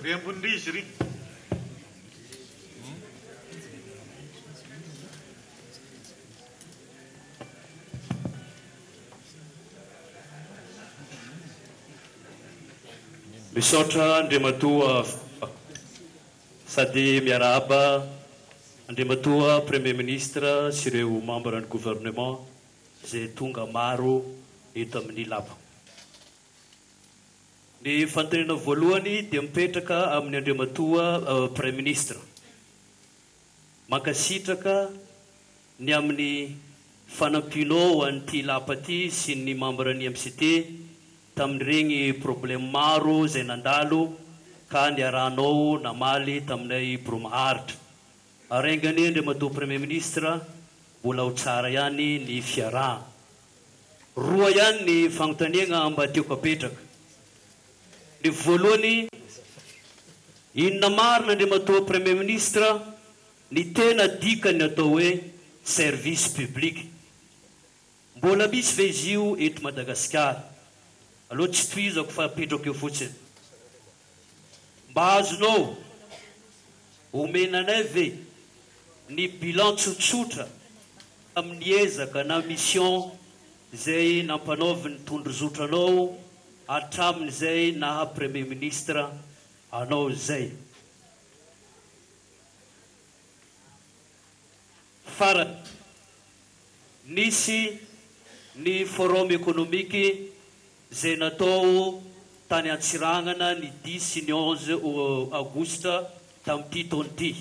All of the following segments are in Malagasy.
Ry ambony ry izy ry. Misaotra Andriamatoa Filoha sady miarahaba Andriamatoa Premier Ministre sy ireo Membres ny Gouvernement izay tonga maro eto amin'ny Lapa. Ny fanontaniana voalohany dia mipetraka amin'i Andriamatoa Praiminisitra. Mankasitraka ny amin'ny fanampianao an'ity lapa ity sy ny mambran'ny MCT tamin'ireny problème maro izay nandalo ka niarahanao namaly taminay Bro Maharitra. Ary enga anie Andriamatoa Praimiministra mbola ho tsara ihany ny fiarahana. Roa ihany ny fanontaniagna mba tiako apetraka. Ny voalohany, inona marina Andriamatoa Premier Ministre ny tena dikan'ny atao hoe service public? Mbola misy ve izy io eto Madagasikara? Aleo tsy tohizako fa apetrako eo fotsiny. Mba azonao omena anay ve ny bilan tsotsotra tamin'ny ezaka na mission izay nampanaovin'ny tondrozotranao hatramin'izay naha Premier Ministre anao izay? Farany, nisy ny Forum Economique. izay natao tany Antsiranana ny dix sy ny onze aogositra tamin'ity taona ity.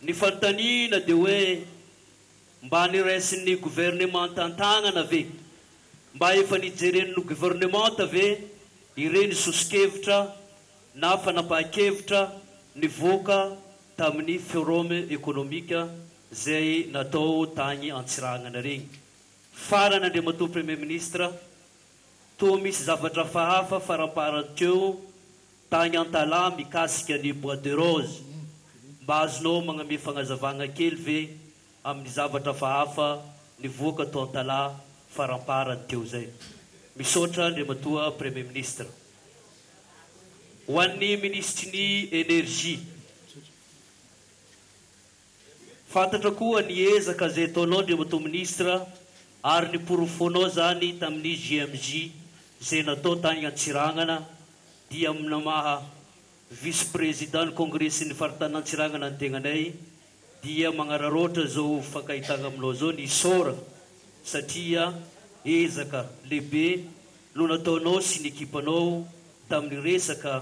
Ny fanontaniana dia hoe mba niraisin'ny governemanta an-tanana ve? Mba efa nijeren'ny governemanta ve ireny soso-kevitra na fanapahan-kevitra nivoaka tamin'ny Forum Economique izay natao tagny Antsiranana regny? Farany Andriamatoa Premier Ministre, toa misy zavatra fahafa faramparany teo tagny Antalaha mikasika ny bois de rose, mba azonao magname fagnazavagna kely ve amin'ny zavatra fahafa nivoaka to Antalaha faramparany teo zay? Misaotra Andriamatoa Premier Ministre. Ho an'ny Minisitry ny Energie. Fantatra koa ny ezaka izay ataonao Andriamatoa Minisitra ary ny porofonao izany tamin'ny JMJ izay natao tany Antsiranana dia ny maha Vice Président ny Kongresin'ny Faritanin' Antsiranana ny tenanay dia magnararaotra izao hifankahitana aminao izao ny isaora satria ezaka lehibe no nataonao sy ny ekipanao tamin'ny resaka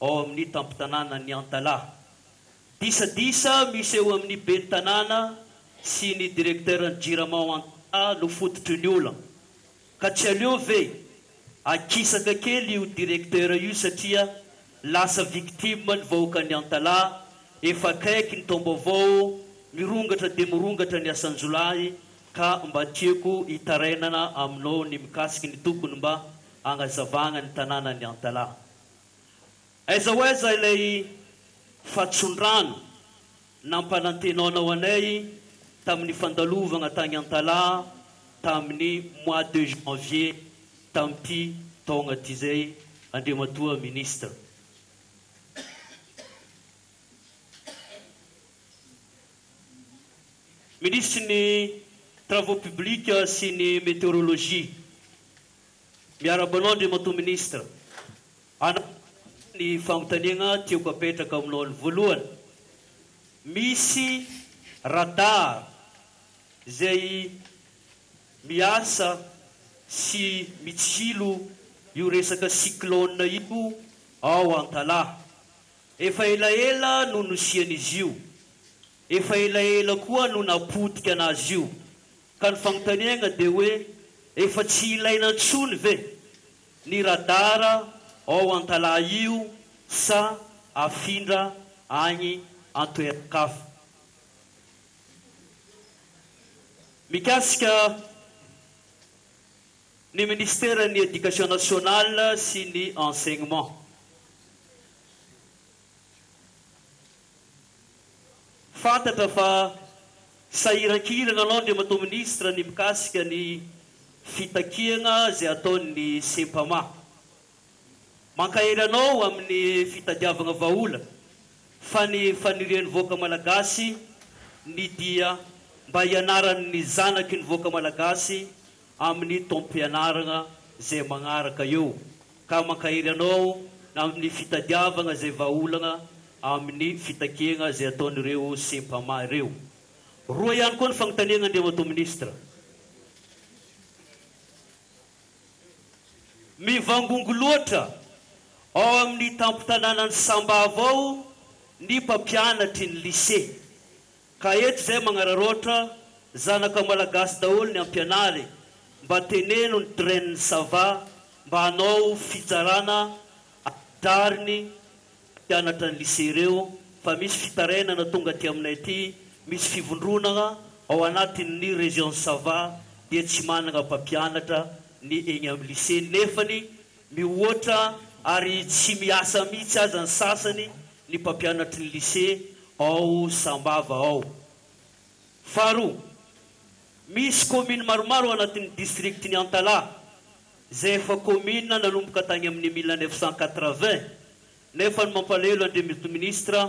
ao amin'ny tampon-tanànan'i Antalaha. Disadisa misy eo amin'ny ben'ny tanàna sy ny direkteuran'ny Jirama ao Antalaha no fototry ny olana. Ka tsy aleo ve akisaka kely io direkteura io satria lasa victime ny vahoakan'i Antalaha, efa akaiky ny taom-baovao, mirongatra dia mirongatra ny asan-jiolahy ka mba tiako hitarainana aminao ny mikasiky ny tokony mba hagnazavagna ny tanànan'i Antalaha. Aiza ho aiza ilay fatson-drano nampanantenanao anay tamin'ny fandalovana tany Antalaha tamin'ny mois de janvier tamin'ity taona ity izay Andriamatoa Ministra? Minisitry ny Travaux publics sy ny Météorologie. Miarahaba anao Andriamatoa Minisitra. Hanaraka aloha ny fanontaniagna tiako apetraka aminao ny voalohany. Misy radar izay miasa sy mitsilo io resaka cyclone io ao Antalaha. Efa elaela no nosian'izy io. Efa elaela koa no napotika anazy io, ka ny fanontaniagna dia hoe efa tsy ilaina intsony ve ny radara ao Antalaha io sa afindra agny antoeran-kafa. Mikasika ny Ministeran'ny Education Nationale sy ny Enseignement. Fantatra fa sahiran-kihirana anao Andriamatoa Minisitra ny mikasika ny fitakiana izay ataon'ny Sempama. Mankahery anao amin'ny fitadiavana vahaolana fa ny fanirian'ny vahoaka Malagasy ny dia mba hianaran'ny zanaky ny vahoaka Malagasy amin'ny taom-pianarana izay manaraka eo ka mankahery anao amin'ny fitadiavana izay vahaolana amin'ny fitakiana izay ataon'ireo Cmpama ireo. Roa ihany koa ny fanontaniana Andriamatoa Minisitra. Mivangongo loatra ao amin'ny tampon-tanànan'i Sambava ao ny mpampianatry ny Lycée Ka eto izay magnararaotra zanaka malagasy daholo ny ampianary mba teneno ny dren ça va mba hanao fitsarana adrariny mpianatra ny lycée ireo fa misy fitarainana tonga aty aminay aty misy fivondronana ao anatin ny region ça va dia tsy manana mpampianatra ny egny am lycée nefany Mihoatra ary tsy miasa mihitsy aza ny sasany ny mpampianatry ny Lycée ao Sambava ao. Faharoa, misy kaominy maromaro ao anatin'ny district-n'i Antalaha izay efa kaomina nanomboka tany amin'ny mille neuf cent quatre-vingts nefa ny mampalahelo Andriamitoa Ministra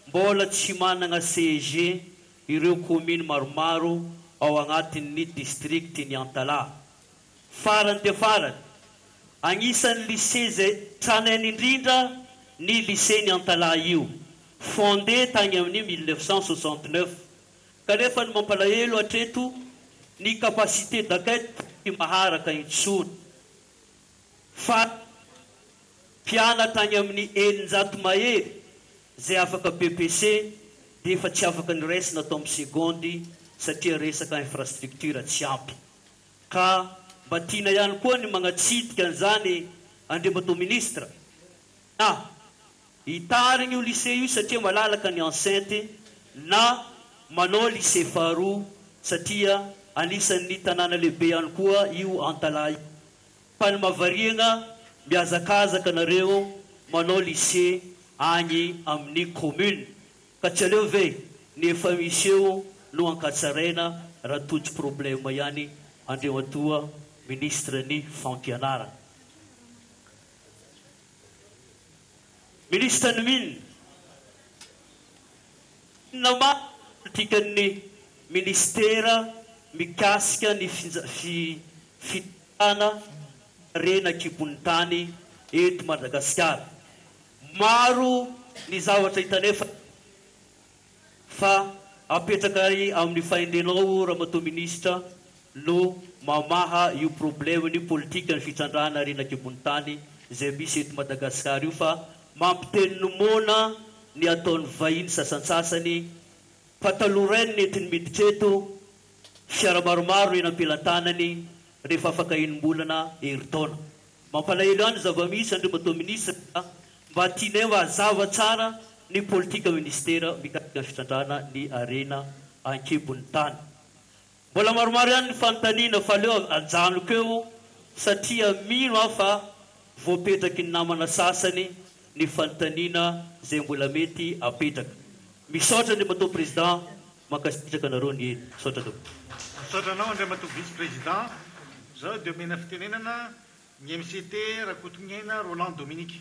mbola tsy manana CEG ireo kaominy maromaro ao agnatin'ny district-n'i Antalaha. Farany dia farany, agnisan'ny lycée izay tranainy indrindra ny lycée-n'i Antalaha io, fondé tagny amin'ny mille neuf cent soixante neuf, kanefa ny mampalahelo hatreto ny capacité d'accueil tsy maharaka intsony. Farany mpianatra agny amin'ny eninjato mahery izay afaka BEPC dia efa tsy afaka niraisina tao amin'ny segondy satria resaka infrastructure tsy ampy. Ka mba tiana ihany koa ny magnatsidika an'izany Andriamatoa Ministra na hitarigny io lycée io satria malalaka ny enceinte na manao lycée faharoa satria anisan'ny tanàna lehibe ihany koa io Antalaha io fa ny mahavariagna mihazakazaka nareo manao lycée agny amin'ny commune Ka tsy aleo ve ny efa misy eo no ankatsaraina raha toa tsy problème ihany Andriamatoa Ministre ny fampianarana. Ministre ny Mines, inona marina ny politikan'ny Ministera mikasika ny fitantanana harena an-kibon'ny tany eto Madagasikara? Maro ny zavatra hita nefa fa apetraka amin'ny fahendrenao Ramatoa Minisitra no mamaha io problème ny politikan'ny fitrandrahana harena an-kibon'ny tany izay misy eto Madagascar io fa mampiteny ny moana ny ataon'ny vahiny sasantsasany fa taloha ray ny nentiny miditra eto fiara maromaro eny am-pelantanany rehefa afaka enim-bolana, herintaona. Mampalahelo ahy ny zava-misy Andriamatoa Minisitra ka mba tianay mba hazava tsara ny politika Minisitera mikasika ny fitrandrahana ny harena an-kibon'ny tany. Mbola maromaro ihany ny fanontaniana fa aleo ajanoko eo satria mino aho fa voapetraky ny namana sasany ny fanontaniana izay mbola mety hapetraka. Misaotra Andriamatoa Président. Mankasitraka anareo neny. Misaotra tompoko. Misaotra anao Andriamatoa Vice Président. Zao de omena fitenenana ny MCT Rakotongiaina Roland Dominique.